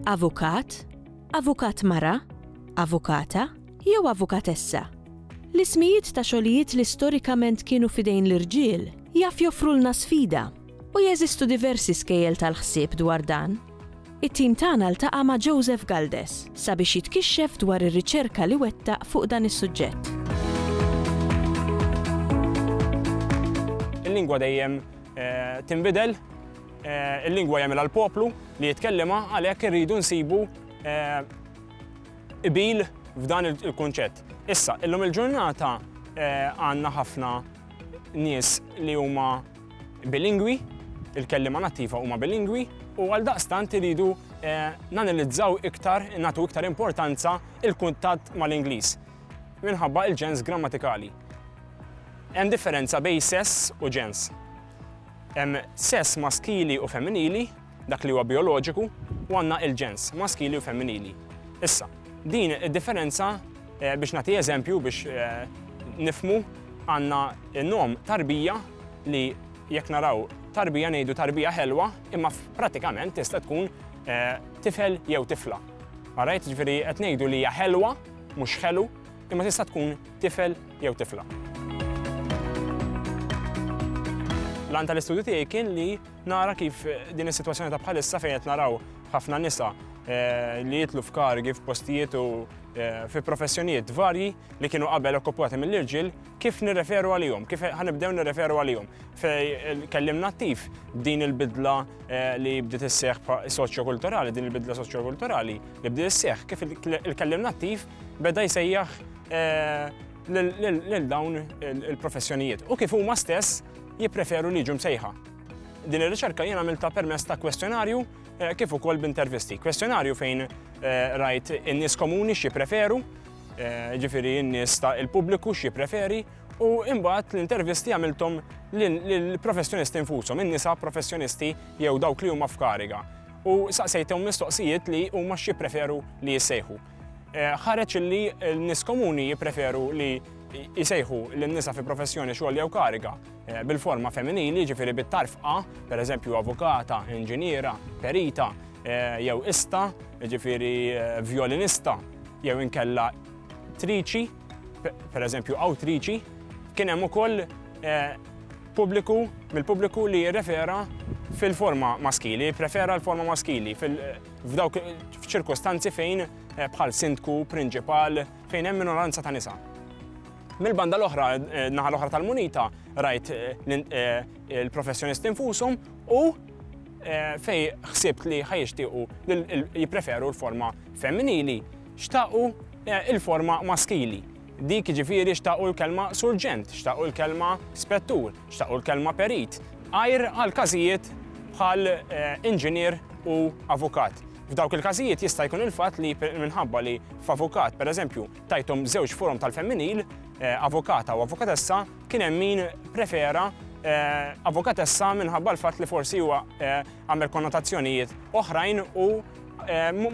Avukat, avukat mara, avukata jew avukatessa. L-ismijiet ta' xogħlijiet li storikament kienu fidejn l-irġiel jaf joffrulna sfida U jeżistu diversi skejjel tal-ħsieb dwar dan. It-tim tagħna ltaqa' ma' Joseph Galdes sabiex jitkixxef dwar ir-riċerka li wettaq fuq dan is-suġġett. Il-lingwa dejjem tinbidel, il-lingwa jagħmilha l-poplu li jitkellima għalhekk irridu nsibu qbil f'dan il-kunċett. Issa, illum il-ġurnata għandna ħafna nies li huma bilingwi, il-kelliema nattiva huma bilingwi u għaldaqstant iridu nanalizzaw iktar, nagħtu iktar importanza il-kuntatt mal-Ingliż minħabba il-ġens grammatikali. Hemm differenza bejn sess u ġens. Hemm sess maskili u femminili dak li huwa bijoloġiku, u għandna il-ġens, maskili u femminili. Issa, din id-differenza eh, biex nagħti eżempju biex eh, nifmu għandna n-nom tarbija li jekk naraw tarbija ngħidu tarbija ħelwa, imma pratikament tista' tkun eh, tifel jew tifla. Għarajt ġifieri qed ngħidu li hija ħelwa, mhux ħelu, imma tista' tkun tifel jew tifla. L-għan tal-istudju tiegħi kien li Nara kif din is-sitwazzjoni ta' bħalissa fejn qed naraw ħafna nisa eh, li jitlu f'kargi f'postijiet u eh, fi professjonijiet varji li kienu qabel okkupati mill-irġiel, kif nirreferu għalihom, kif ħanibdew nirreferu għalihom. Fej eh, kellim nattiv din il-bidla li bdiet isseħ soċjokulturali, din il-bidla soċjokulturali li bdiet isseħ, kif il-kellim nattiv beda jsejjaħ lil dawn il-professjonijiet. U kif huma stess jippreferu li jiġu msejħa. Din ir-riċerka jien għamilta permess ta' kwestjonarju eh, kif ukoll b'intervisti. Kwestjonarju fejn eh, rajt in-nies komuni x'jippreferu, eh, ġifieri n-nies ta' il-pubbliku x'jippreferi, u imbagħad l-intervisti għamilthom lill-professjonisti infushom, in-nisa professjonisti jew dawk li huma f'kariga. U saqsejthom mistoqsijiet li huma x'jippreferu li jissejħu. Eh, ħareġ li n-nis komuni jipreferu li jisejħu l-nisa fi professjoni xogħol jew kariga eh, bil-forma femminili ġifiri bit-tarf A, per eżempju avukata, inġiniera, perita, eh, jew ista, ġifiri violinista, jew inkella triċi, per eżempju awtriċi, kien hemm ukoll pubbliku mill-pubbliku li jirrefera fil-forma maskili, prefera l-forma maskili fil-forma F'dawk f'ċirkostanzi fejn eh, bħal sindku, prinċipal, fejn hemm minoranza ta' nisa. Mill-banda l-oħra, eh, naħa l-oħra tal-munita, rajt eh, il-professjonisti infushom u fej ħsibt li ħajixtiequ jippreferu l-forma femminili, xtaqu il-forma maskili. Dik ġifiri xtaqu l-kelma surġent, xtaqu l-kelma spettur, Xtaqu l-kelma perit għajr għal każijiet bħal inġinier u avukat. F'dawk il-każijiet jista' jkun il-fatt li minħabba li f'avukat, pereżempju, tajthom żewġ forom tal-femminil, eh, avukata u avukatessa, kien hemm min prefera eh, avukatessa minħabba l-fatt li forsi huwa eh, għamel konnotazzjonijiet oħrajn u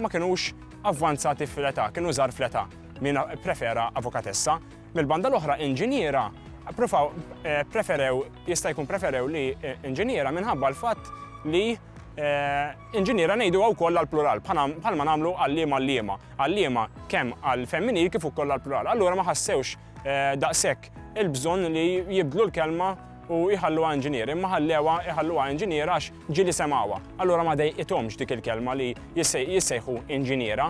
ma kinux avvanzati fl-età, kienu żar fl-età min prefera avukatessa. Mill-banda l-oħra inġiniera provaw preferew, jista' jkun preferew li inġiniera minħabba l-fatt li Eh, inġiniera ngħidu wkoll għal plural bħalma nagħmlu għalliema għalliema. Għalliema kemm għal femminil kif ukoll għal plural. Allura ma ħassewx eh, daqshekk il-bżonn li jibdlu l-kelma u jħalluha inġinier, imma ħallewa jħalluha inġinier għax ġili semawha. Allura ma dejqithomx dik il-kelma li jissejħu inġiniera.